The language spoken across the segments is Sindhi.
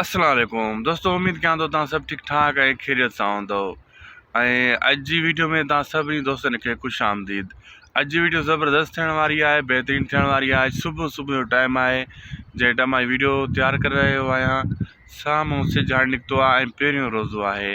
السلام عليڪم دوستو اميد ڪيان ٿو توهان سڀ ٺيڪ ٺاڪ ۽ خيريت سان هوندو ۽ اڄ جي ويڊيو ۾ توهان سڀني دوستن کي خوش آمديد اڄ جي ويڊيو زبردست ٿيڻ واري آهي بهترين ٿيڻ واري آهي صبح صبح جو ٽائيم آهي جنهن ٽائيم مان ويڊيو تيار ڪري رهيو آهيان سامهون سجهاڻ نڪتو آهي ۽ پهريون روزو آهي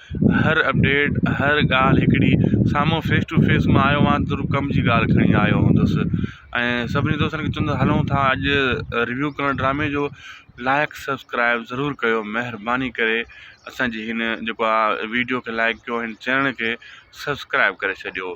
هر اپڊيٽ هر ڳالهه هڪڙي سامهون فيس ٽو فيس مان آيو هئان ته ضرور ڪم جي ڳالهه کڻي آيو هوندس ۽ سڀني دوستن کي چوندس هلون ٿا اڄ ريويو ڪرڻ ڊرامي جو لائق سبسڪرائب ضرور ڪيو مهرباني ڪري اسانجي هن جيڪو آ ويڊيو کي لائق ڪيو هن چينل کي سبسڪرائب ڪري ڇڏيو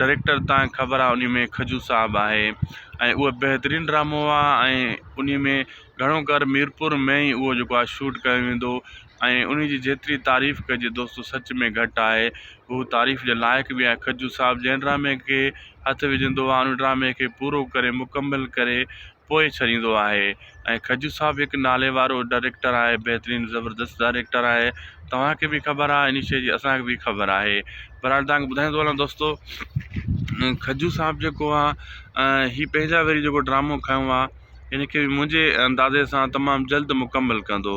ڊريڪٽر تان خبر آ انهي ۾ کجو صاحب آهي ۽ اهو بهترين ڊرامو آ ۽ انهي ۾ گهڻو ڪر ميرپور ۾ ئي اهو جيڪو آ شوٽ ڪيو ويندو ۽ انهي جي جيتري تعريف ڪجي دوستو سچ ۾ گهٽ آهي هو تعريف جي لائق به آهي کجو صاحب جنهن ڊرامي کي هٿ وجهندو آ ان ڊرامي کي پورو ڪري مڪمل ڪري پوء ڇڏيندو آهي ۽ کجو صاحب هڪ نالي وارو ڊائريڪٽر آهي بهترين زبردست ڊائريڪٽر آهي توهان کي به خبر آهي اني شي جي اسان کي به خبر آهي بهرحال توهان کي ٻڌائيندو هلان دوستو کجو صاحب جيڪو آهي هي پنهنجا وري جيڪو ڊرامو کنيو آهي ان کي به منهنجي اندازي سان تمام جلد مڪمل ڪندو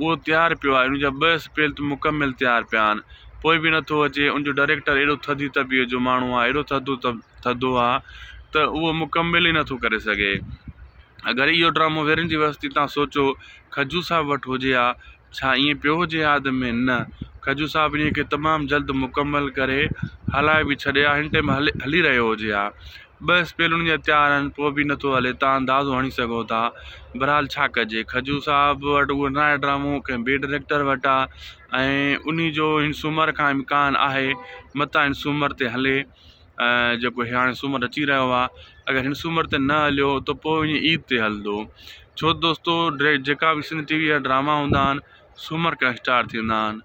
اهو تيار پيو آهي، ان جا ٻه اسپيل ته مڪمل تيار پيا آهن، پوء به نه ٿو اچي، ان جو ڊائريڪٽر اهڙو ٿڌي طبيعت جو ماڻهو آهي، اهڙو ٿڌو ٿڌو آهي ته اهو مڪمل ئي نه ٿو ڪري سگهي. اگر اهو ڊرامو ويرين جي وستي تان سوچو کجو صاحب وٽ هجي ها، ڇا ائين پيو هجي ها اڌ ۾؟ نه، کجو صاحب انهيء کي تمام جلد مڪمل ڪري هلائي به ڇڏي ها، هن ٽيم هلي رهيو هجي ها. ٻه اسپيل انهن جا تيار آهن پوء به نٿو هلي تان اندازو هڻي سگهو ٿا بهرحال ڇا ڪجي کجو صاحب وٽ اهو ناهي ڊرامو ڪنهن ٻئي ڊريڪٽر وٽ آهي ۽ انهي جو هن سومر کان امڪان آهي متان هن سومر تي هلي جيڪو هي هاڻي سومر اچي رهيو آهي اگر هن سومر تي نه هليو ته پوء وڃي عيد تي هلندو ڇو دوستو ڊري جيڪا به سنڌ ٽي وي جا ڊراما هوندا آهن سومر کان اسٽارٽ ٿيندا آهن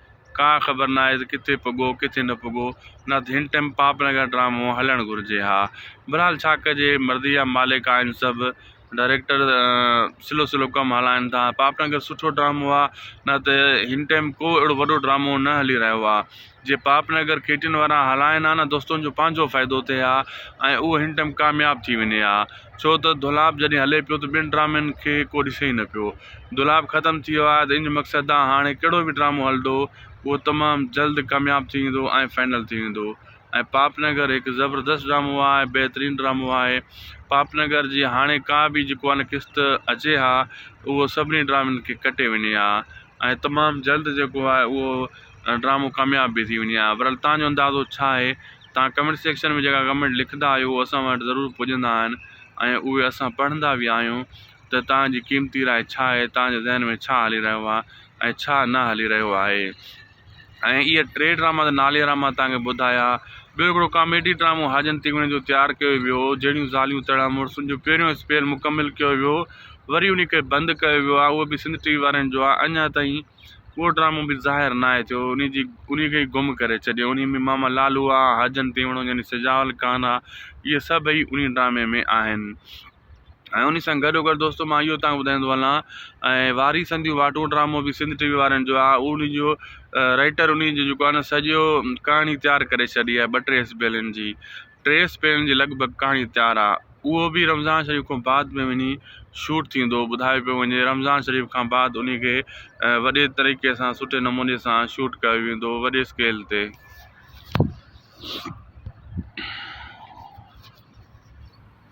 ڪا خبر ناهي ته ڪٿي پڳو ڪٿي نه پڳو نه ته هن ٽئم پاپ نگر ڊرامو هلڻ گهرجي ها بهرحال ڇا ڪجي مرضي جا مالڪ آهن سڀ ڊائريڪٽر سلو سلو ڪم هلائن ٿا پاپ نگر سٺو ڊرامو آهي نه ته هن ٽئم ڪو اهڙو وڏو ڊرامو نه هلي رهيو آهي جي پاپ نگر کيٽين وارا هلائن ها نه دوستن جو پنهنجو فائدو ٿئي ها ۽ اهو هن ٽئم ڪامياب ٿي وڃي ها ڇو ته دولاب جڏهن هلي پيو ته ٻين ڊرامن کي ڪو ڏسي ئي نه پيو دولاب ختم ٿي ويو آهي ته ان مقصد ڏانهن هاڻي ڪهڙو به ڊرامو هلندو اهو تمام جلد ڪامياب ٿي ويندو ۽ فائنل ٿي ويندو ۽ پاپ نگر هڪ زبردست ڊرامو آهي بهترين ڊرامو آهي پاپ نگر جي هاڻي ڪا به جيڪو آهي نه قسط اچي ها اهو سڀني ڊرامن کي ڪٽي وڃي ها ۽ تمام جلد جيڪو آهي اهو ڊرامو ڪامياب به ٿي وڃي ها برحال تنهنجو اندازو ڇا آهي تنهن ڪمينٽ سيڪشن ۾ جيڪا ڪمينٽ لکندا آهيو اسان وٽ ضرور پڄندا آهن ۽ اهي اسان پڙهندا به آهيون ته توهان جي قيمتي راء ڇا آهي، توهان جي ذهن ۾ ڇا هلي رهيو آهي ۽ ڇا نه هلي رهيو آهي ۽ اهي ٽي ڊراما ته ناليرا مان توهان کي ٻڌايا. ٻيو هڪڙو ڪاميڊي ڊرامو حاجن تيغوڻي جو تيار ڪيو ويو هو، جهڙيون زاليون تهڙا مڙس ان جو پهريون اسپيل مڪمل ڪيو ويو وري انهي کي بند ڪيو ويو آهي اهو به سنڌ ٽي وي وارن جو آهي اڃان تائين اهو ڊرامو به ظاهر ناهي ٿيو انهي جي انهي کي ئي گم ڪري ڇڏيو انهي ۾ ماما لالو آهي حاجن تيوڻو يعني سجاول خان آهي اهي سڀئي انهي ڊرامي ۾ آهن. ۽ انهي سان گڏو گڏ دوستو مان اهو توهان کي ٻڌائيندو هلان ۽ واري سنديون واٽون ڊرامو به سنڌ ٽي وي وارن جو آهي انهي جو رائيٽر انهي جو جيڪو آهي نه سڄو ڪهاڻي تيار ڪري ڇڏي آهي ٻه ٽي سپيلن جي ٽي سپيلن جي لڳ ڀڳ ڪهاڻي تيار آهي اهو به رمضان شريف کان بعد ۾ وڃي شوٽ ٿيندو ٻڌايو پيو وڃي رمضان شريف کان بعد انهي کي وڏي طريقي سان سٺي نموني سان شوٽ ڪيو ويندو وڏي اسڪيل تي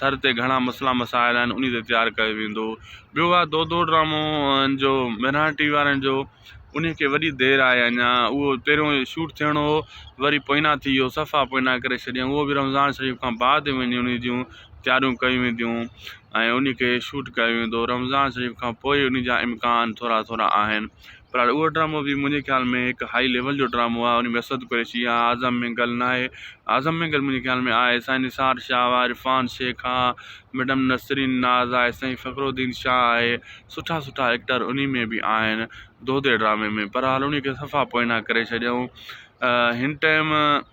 ٿر تي گهڻا مسئلا مسائل آهن انهي تي تيار ڪيو ويندو ٻيو آهي دودو ڊرامو جو ميران ٽي وي وارن جو انهي کي وڏي دير آهي اڃا اهو پهريون شوٽ ٿيڻو هو وري پوئنا ٿي ويو صفا پوئنا ڪري ڇڏيائون اهو به رمضان شريف کان بعد وڃي انهي جون تياريون ڪيون وينديون ۽ انهي کي شوٽ ڪيو ويندو رمضان شريف کان پوء انهي جا امڪان ٿورا ٿورا آهن پر هاڻي اهو ڊرامو به منهنجي خيال ۾ هڪ هائي ليول جو ڊرامو آهي ان ۾ اسد قريشي يا اعظم مينگل ناهي اعظم مينگل منهنجي خيال ۾ آهي سائين نثار شاهه آهي عرفان شيخ آهي ميڊم نسرين ناز آهي سائين فخر الدين شاهه آهي سٺا سٺا ايڪٽر ان ۾ به آهن دودي ڊرامي ۾ پر هاڻي ان کي صفا پوئنا ڪري ڇڏيائون هن ٽائيم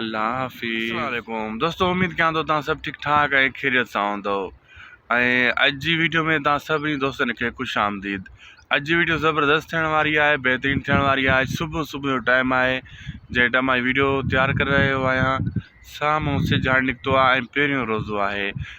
الله حافظ اسلام عليڪم دوستو اميد ڪيان ٿو تان سڀ ٺيڪ ٺاڪ ۽ خيريت سان هوندو ۽ اڄ جي ويڊيو ۾ تان سڀني دوستن کي خوش آمديد اڄ جي ويڊيو زبردست ٿيڻ واري آهي بهترين ٿيڻ واري آهي صبح صبح جو ٽائيم آهي جنهن ٽائيم مان ويڊيو تيار ڪري رهيو آهيان سامهون سجهاڻ نڪتو آهي ۽ پهريون روزو آهي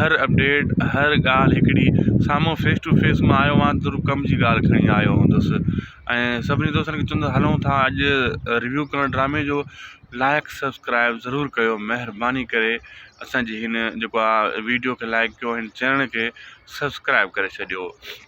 هر اپڊيٽ هر ڳالهه هڪڙي سامهون فيس ٽو فيس مان آيو هئان ته ضرور ڪم جي ڳالهه کڻي آيو هوندس ۽ سڀني دوستن کي چوندس هلون ٿا اڄ ريويو ڪرڻ ڊرامي جو لائق سبسڪرائب ضرور ڪيو مهرباني ڪري اسانجي هن جيڪو آ ويڊيو کي لائق ڪيو هن چينل کي سبسڪرائب ڪري ڇڏيو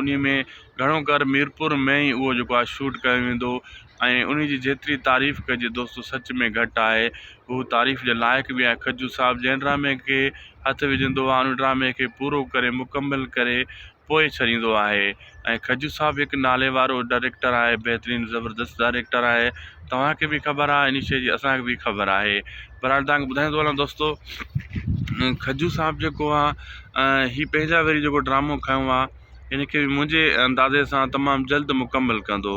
انهي ۾ گهڻو ڪر ميرپور ۾ ئي اهو جيڪو آهي شوٽ ڪيو ويندو ۽ انهي جي جيتري تعريف ڪجي دوستو سچ ۾ گهٽ آهي هو تعريف جي لائق به آهي کجو صاحب جنهن ڊرامي کي هٿ وجهندو آهي ان ڊرامي کي پورو ڪري مڪمل ڪري پوء ڇڏيندو آهي ۽ کجو صاحب هڪ نالي وارو ڊائريڪٽر آهي بهترين زبردست ڊائريڪٽر آهي توهان کي به خبر آهي انهي شي جي اسان کي به خبر آهي بھرحال تھان کي ٻڌائيون ٿو ھلان دوستو کجو صاحب جيڪو آ ھي پنھنجا وري جيڪو ڊرامو کنيو آ ان کي منھنجي اندازي سان تمام جلد مڪمل ڪندو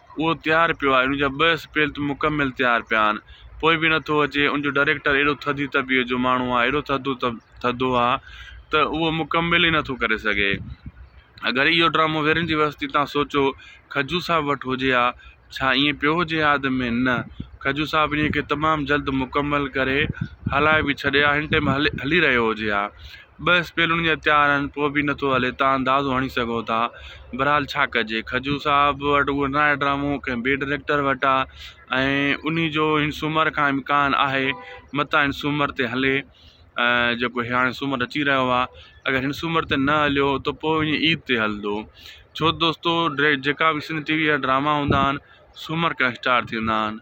اهو تيار پيو آهي، ان جا ٻه اسپيل ته مڪمل تيار پيا آهن، پوء به نه ٿو اچي، ان جو ڊائريڪٽر اهڙو ٿڌي طبيعت جو ماڻهو آهي، اهڙو ٿڌو ٿڌو آهي ته اهو مڪمل ئي نه ٿو ڪري سگهي. اگر اهو ڊرامو ويرين جي وستي تان سوچو کجو صاحب وٽ هجي ها، ڇا ائين پيو هجي ها اڌ ۾؟ نه، کجو صاحب انهيء کي تمام جلد مڪمل ڪري هلائي به ڇڏي ها، هن ٽيم هلي رهيو هجي ها. ٻه اسپيل انهن جا تيار آهن، پوء به نٿو هلي، توهان اندازو هڻي سگهو ٿا. بهرحال ڇا ڪجي، کجو صاحب وٽ اهو ناهي ڊرامو، ڪنهن ٻئي ڊريڪٽر وٽ آ ۽ انهي جو هن سومر کان امڪان آهي، متان هن سومر تي هلي، جيڪو هاڻي سومر اچي رهيو آ. اگر هن سومر تي نه هليو ته پوء وڃي عيد تي هلندو. ڇوته دوستو جيڪا به سنڌ ٽي وي جا ڊراما هوندا آهن، سومر کان اسٽارٽ ٿيندا آهن.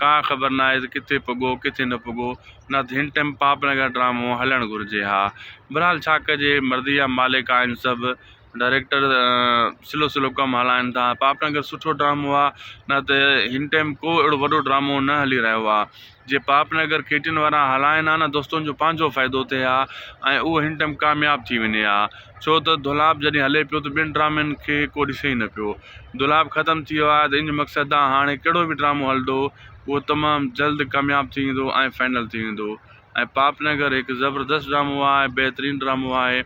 ڪا خبر ناهي ته ڪٿي پڳو ڪٿي نه پڳو نه ته هن ٽئم پاپ نگر ڊرامو هلڻ گهرجي ها بهرحال ڇا ڪجي مرضي جا مالڪ آهن سڀ ڊائريڪٽر سلو سلو ڪم هلائن ٿا پاپ نگر سٺو ڊرامو آهي نه ته هن ٽئم ڪو اهڙو وڏو ڊرامو نه هلي رهيو آهي جي پاپ نگر کيٽين وارا هلائن ها نه دوستن جو پنهنجو فائدو ٿئي ها ۽ اهو هن ٽئم ڪامياب ٿي وڃي ها ڇو ته دولاب جڏهن هلي پيو ته ٻين ڊرامن کي ڪو ڏسي ئي نه پيو. دولاب ختم ٿي ويو آهي ته انج مقصد آ هاڻي ڪهڙو به ڊرامو هلندو اهو تمام جلد ڪامياب ٿي ويندو ۽ فائنل ٿي ويندو ۽ پاپ نگر هڪ زبردست ڊرامو آ ۽ بهترين ڊرامو آهي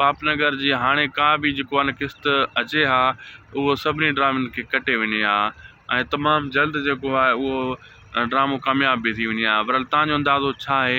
پاپ نگر جي هاڻي ڪا به جيڪو آ نه قسط اچي ها اهو سڀني ڊرامن کي ڪٽي وڃي ها ۽ تمام جلد جيڪو آهي اهو ڊرامو ڪامياب به ٿي وڃي ها برحال تهان جو اندازو ڇا آهي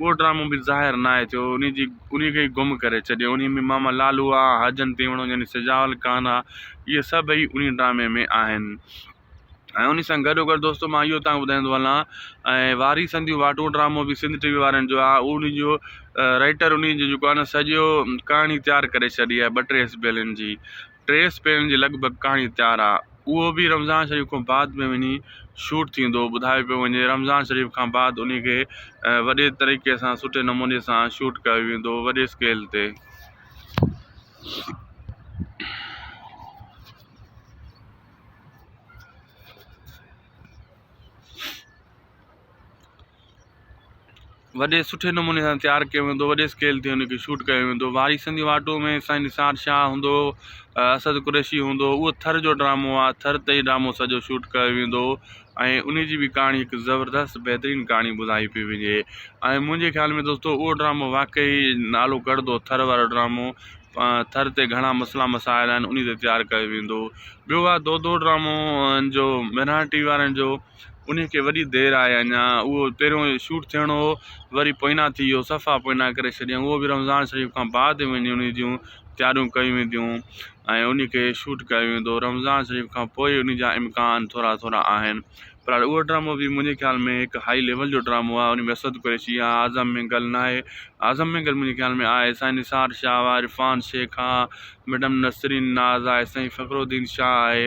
اهو ڊرامو به ظاهر ناهي ٿيو، انهيء جي انهيء کي ئي گم ڪري ڇڏيو. انهيء ۾ ماما لالو آ، حاجن تيوڻو يعني سجاول ڪانه آ، اهي سڀئي انهيء ڊرامي ۾ آهن. ۽ انهيء سان گڏوگڏ دوستو مان اهو توهان کي ٻڌائيندو هلان ۽ واري سنديون واٽون ڊرامو به سنڌ ٽي وي وارن جو آ، انهيء جو رائيٽر انهيء جو جيڪو آ نه سڄو ڪهاڻي تيار ڪري ڇڏي آ ٻه ٽي اسپيلن جي. ٽي سپيرن جي لڳ ڀڳ ڪهاڻي تيار آ اهو به رمضان شريف کان بعد ۾ وڃي شوٽ ٿيندو ٻڌايو پيو وڃي رمضان شريف کان بعد انهي کي وڏي طريقي سان سٺي نموني سان شوٽ ڪيو ويندو وڏي اسڪيل تي وڏي سٺي نموني سان تيار ڪيو ويندو وڏي اسڪيل تي ان کي شوٽ ڪيو ويندو وارثن جي واٽو ۾ سائين نثار شاهه هوندو اسد قريشي هوندو اهو ٿر جو ڊرامو آهي ٿر تي ئي ڊرامو سڄو شوٽ ڪيو ويندو ۽ ان جي بي ڪهاڻي هڪ زبردست بهترين ڪهاڻي ٻڌائي پئي وڃي ۽ منهنجي خيال ۾ دوستو اهو ڊرامو واقعي نالو ڪڙدو ٿر وارو ڊرامو ٿر تي گهڻا مسئلا مسائل آهن ان تي تيار ڪيو ويندو ٻيو آهي دودو ڊرامو جو ميران ٽي وي وارن جو انهي کي وڏي دير آهي اڃا اهو پهريون شوٽ ٿيڻو هو وري پوئنا ٿي ويو صفا پوئنا ڪري شڏيائون اهو به رمضان شريف کان بعد وڃي انهي جون تياريون ڪيون وينديون ۽ انهي کي شوٽ ڪيو ويندو رمضان شريف کان پوء انهي جا امڪان ٿورا ٿورا آهن پر اهو ڊرامو به منهنجي خيال ۾ هڪ هائي ليول جو ڊرامو آهي انهي ۾ اسد قريشي آهي اعظم مينگل ناهي اعظم مينگل منهنجي خيال ۾ آهي سائين نثار شاهه آهي عرفان شيخ آهي ميڊم نسرين ناز آهي سائين فخر الدين شاهه آهي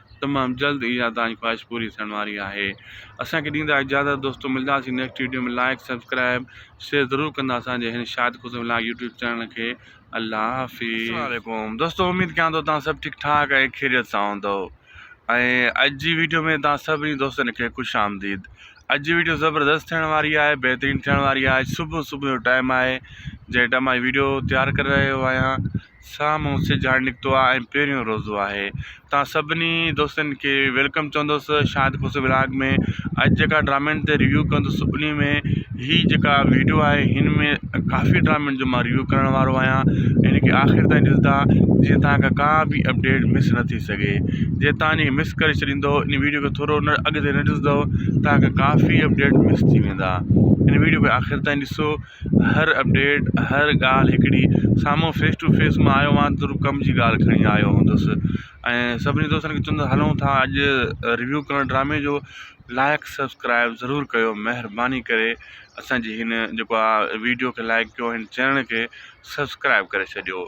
تمام جلد اها توهان جي خواهش پوري ٿيڻ واري آهي اسان کي ڏيندا اجازت دوستو ملداسين next video ۾ like subscribe share ضرور ڪندا اسان جي هن Shahid Khusro vlog YouTube channel کي الله حافظ السلام عليڪم دوستو اميد ڪيان ٿو توهان سڀ ٺيڪ ٺاڪ ۽ خيريت سان هوندو ۽ اڄ جي ويڊيو ۾ توهان سڀني دوستن کي خوش آمديد اڄ جي ويڊيو زبردست ٿيڻ واري آهي بهترين ٿيڻ واري آهي صبح صبح جو ٽائم آهي جنهن ٽائم آهي ويڊيو تيار ڪري رهيو آهيان سامهون سج هاڻي نڪتو آهي ۽ پهريون روزو آهي توهان سڀني دوستن کي ويلڪم چوندس شاهد کوسو ولاگ ۾ اڄ جيڪا ڊرامن تي ريويو ڪندس انهي ۾ هي جيڪا ويڊيو آهي هن ۾ ڪافي ڊرامن جو مان ريويو ڪرڻ وارو آهيان هن کي آخر تائين ڏسندا جيئن توهان کي ڪا به اپڊيٽ مس نه ٿي سگهي جي توهان هن کي مس ڪري ڇڏيندو ان ويڊيو کي ٿورو نه اڳتي نه ڏسندو توهان کي ڪافي اپڊيٽ مس ٿي ويندا هن ويڊيو کي آخر تائين ڏسو هر اپڊيٽ هر ڳالهه هڪڙي سامهون فيس ٽو فيس مان آيو هئان ته ڪم جي ڳالهه کڻي آيو هوندس ۽ سڀني دوستن کي چوندس هلون ٿا اڄ ريويو ڪرڻ ڊرامي جو لائق سبسڪرائب ضرور ڪيو مهرباني ڪري اسانجي هن جيڪو آ ويڊيو کي لائق ڪيو هن چينل کي سبسڪرائب ڪري ڇڏيو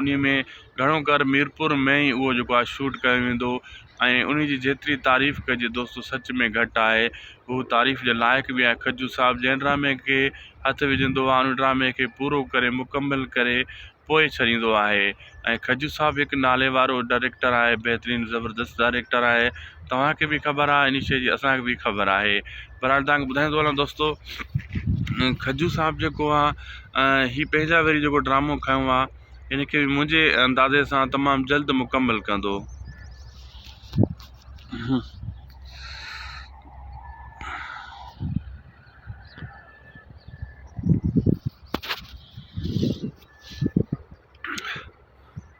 انهي ۾ گهڻو ڪر ميرپور ۾ ئي اهو جيڪو آهي شوٽ ڪيو ويندو ۽ انهي جي جيتري تعريف ڪجي دوستو سچ ۾ گهٽ آهي هو تعريف جي لائق به آهي کجو صاحب جنهن ڊرامي کي هٿ وجهندو آهي ان ڊرامي کي پورو ڪري مڪمل ڪري پوء ڇڏيندو آهي ۽ کجو صاحب هڪ نالي وارو ڊائريڪٽر آهي بهترين زبردست ڊائريڪٽر آهي توهان کي به خبر آهي انهي شي جي اسان کي به خبر آهي بھرحال تھان کي ٻڌائيون ٿو ھلان دوستو کجو صاحب جيڪو آ ھي پنھنجا وري جيڪو ڊرامو کنيو آ ان کي منھنجي اندازي سان تمام جلد مڪمل ڪندو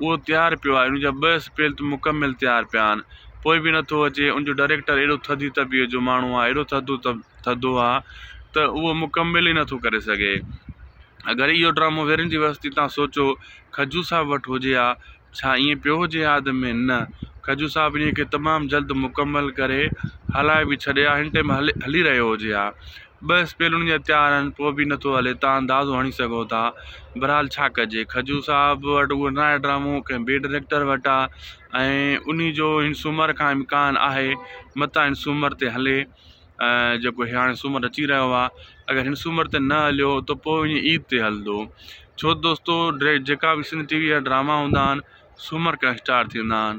اهو تيار پيو آهي، ان جا ٻه اسپيل ته مڪمل تيار پيا آهن، پوء به نه ٿو اچي، ان جو ڊائريڪٽر اهڙو ٿڌي طبيعت جو ماڻهو آهي، اهڙو ٿڌو ٿڌو آهي ته اهو مڪمل ئي نه ٿو ڪري سگهي. اگر اهو ڊرامو ويرين جي وستي تان سوچو کجو صاحب وٽ هجي ها، ڇا ائين پيو هجي ها اڌ ۾؟ نه، کجو صاحب انهيء کي تمام جلد مڪمل ڪري هلائي به ڇڏي ها، هن ٽيم هلي رهيو هجي ها. ٻه اسپيل انهن جا تيار آهن، پوء به نٿو هلي، توهان اندازو هڻي سگهو ٿا. بهرحال ڇا ڪجي، کجو صاحب وٽ اهو ناهي ڊرامو، ڪنهن ٻئي ڊريڪٽر وٽ آ ۽ انهي جو هن سومر کان امڪان آهي، متان هن سومر تي هلي، جيڪو هاڻي سومر اچي رهيو آ. اگر هن سومر تي نه هليو ته پوء وڃي عيد تي هلندو. ڇو ته دوستو جيڪا به سنڌ ٽي وي جا ڊراما هوندا آهن، سومر کان اسٽارٽ ٿيندا آهن.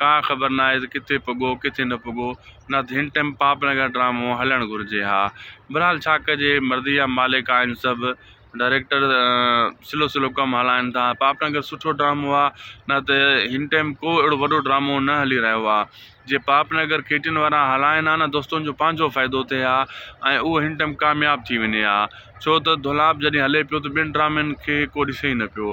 ڪا خبر ناهي ته ڪٿي پڳو ڪٿي نه پڳو نه ته هن ٽئم پاپ نگر ڊرامو هلڻ گهرجي ها برحال ڇا ڪجي مرضي جا مالڪ آهن سڀ ڊائريڪٽر سلو سلو ڪم هلائن ٿا پاپ نگر سٺو ڊرامو آهي نه ته هن ٽئم ڪو اهڙو وڏو ڊرامو نه هلي رهيو آهي جي پاپ نگر ڪي ٽي اين وارا هلائن ها نه دوستن جو پنهنجو فائدو ٿئي ها ۽ اهو هن ٽئم ڪامياب ٿي وڃي ها ڇو ته دولاب جڏهن هلي پيو ته ٻين ڊرامن کي ڪو ڏسي ئي نه پيو.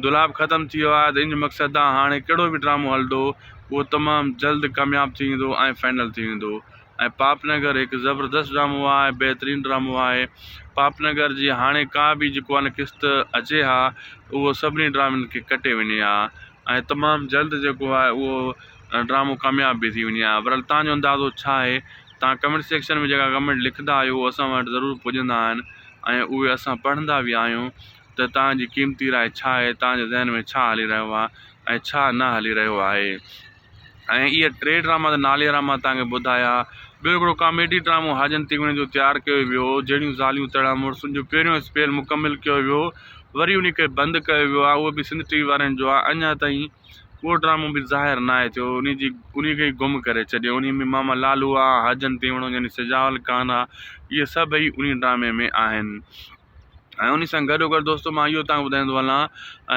دولاب ختم ٿي ويو آهي ته ان مقصد تان هاڻي ڪهڙو به ڊرامو هلندو اهو تمام جلد ڪامياب ٿي ويندو ۽ فائنل ٿي ويندو ۽ پاپ نگر هڪ زبردست ڊرامو آهي بهترين ڊرامو آهي پاپ نگر جي هاڻي ڪا به جيڪو آهي نه قسط اچي ها اهو سڀني ڊرامن کي ڪٽي وڃي ها ۽ تمام جلد جيڪو آهي اهو ڊرامو ڪامياب به ٿي وڃي ها برحال تهان جو اندازو ڇا آهي تان ڪمينٽ سيڪشن ۾ جيڪا ڪمينٽ لکندا آهيو هو اسان وٽ ضرور پڄندا آهن ۽ اهي اسان پڙهندا به آهيون ته تان جي قيمتي راء ڇا آهي تان جي ذهن ۾ ڇا هلي رهيو آهي ۽ ڇا نه هلي رهيو آهي ۽ اهي ٽي ڊراما ته ناليرا مان تان کي ٻڌايا ٻيو هڪڙو ڪاميڊي ڊرامو حاجن تيوڻي جو تيار ڪيو ويو هو جهڙيون زاليون تهڙا مڙس ان جو پهريون اسپيل مڪمل ڪيو ويو وري انهي کي بند ڪيو ويو آهي اهو به سنڌ ٽي وي وارن جو آهي اڃا تائين اهو ڊرامو به ظاهر ناهي ٿيو، انهيء جي انهيء کي ئي گم ڪري ڇڏيو. انهيء ۾ ماما لالو آ، حاجن تيوڻو يعني سجاول کان آ، اهي سڀئي انهيء ڊرامي ۾ آهن. ۽ انهيء سان گڏوگڏ دوستو مان اهو توهان کي ٻڌائيندو هلان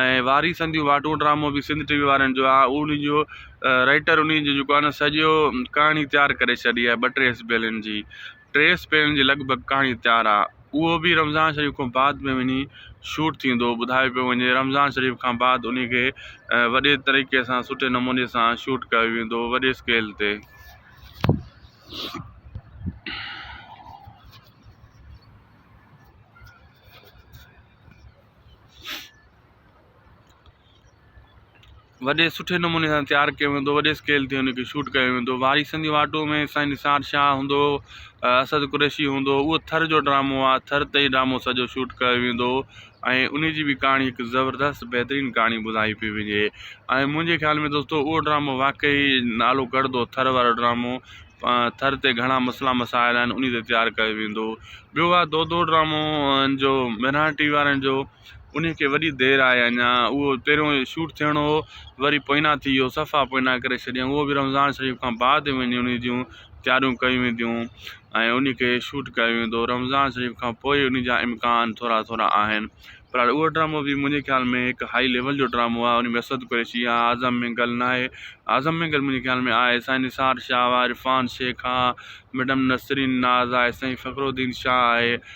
۽ واري سنديون واٽون ڊرامو به سنڌ ٽي وي وارن جو آ، انهيء جو رائيٽر انهيء جو جيڪو آ نه سڄو ڪهاڻي تيار ڪري ڇڏي آ ٻه ٽي اسبيلين جي. ٽي سپيرن جي لڳ ڀڳ ڪهاڻي تيار آ اهو به رمضان شريف کان بعد ۾ وڃي شوٽ ٿيندو ٻڌايو پيو وڃي رمضان شريف کان بعد انهي کي وڏي طريقي سان سٺي نموني سان شوٽ ڪيو ويندو وڏي اسڪيل تي وڏي سٺي نموني سان تيار ڪيو ويندو وڏي اسڪيل تي ان کي شوٽ ڪيو ويندو واري سنڌي واٽو ۾ سائين نثار شاهه هوندو اسد قريشي هوندو اهو ٿر جو ڊرامو آهي ٿر تي ئي ڊرامو سڄو شوٽ ڪيو ويندو ۽ ان جي به ڪهاڻي هڪ زبردست بهترين ڪهاڻي ٻڌائي پئي وڃي ۽ منهنجي خيال ۾ دوستو اهو ڊرامو واقعي نالو ڪڙدو ٿر وارو ڊرامو ٿر تي گهڻا مسئلا مسائل آهن ان تي تيار ڪيو ويندو ٻيو آهي دودو ڊرامو جو ميران ٽي وي وارن جو انهي کي وڏي دير آهي اڃا اهو پهريون شوٽ ٿيڻو هو وري پوئنا ٿي ويو صفا پوئنا ڪري شڏيائون اهو به رمضان شريف کان بعد وڃي انهي جون تياريون ڪيون وينديون ۽ انهي کي شوٽ ڪيو ويندو رمضان شريف کان پوء انهي جا امڪان ٿورا ٿورا آهن پر اهو ڊرامو به منهنجي خيال ۾ هڪ هائي ليول جو ڊرامو آهي انهي ۾ اسد قريشي آهي اعظم مينگل ناهي اعظم مينگل منهنجي خيال ۾ آهي سائين نثار شاهه آهي عرفان شيخ آهي ميڊم نسرين ناز آهي سائين فخرالدين شاهه آهي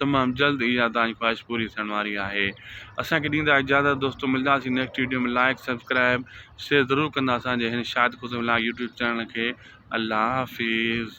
تمام جلد اها توهان جي خواهش پوري ٿيڻ واري آهي اسان کي ڏيندا اجازت دوستو ملداسين next video ۾ like subscribe share ضرور ڪندا اسان جي هن Shahid Khusro vlog YouTube channel کي الله حافظ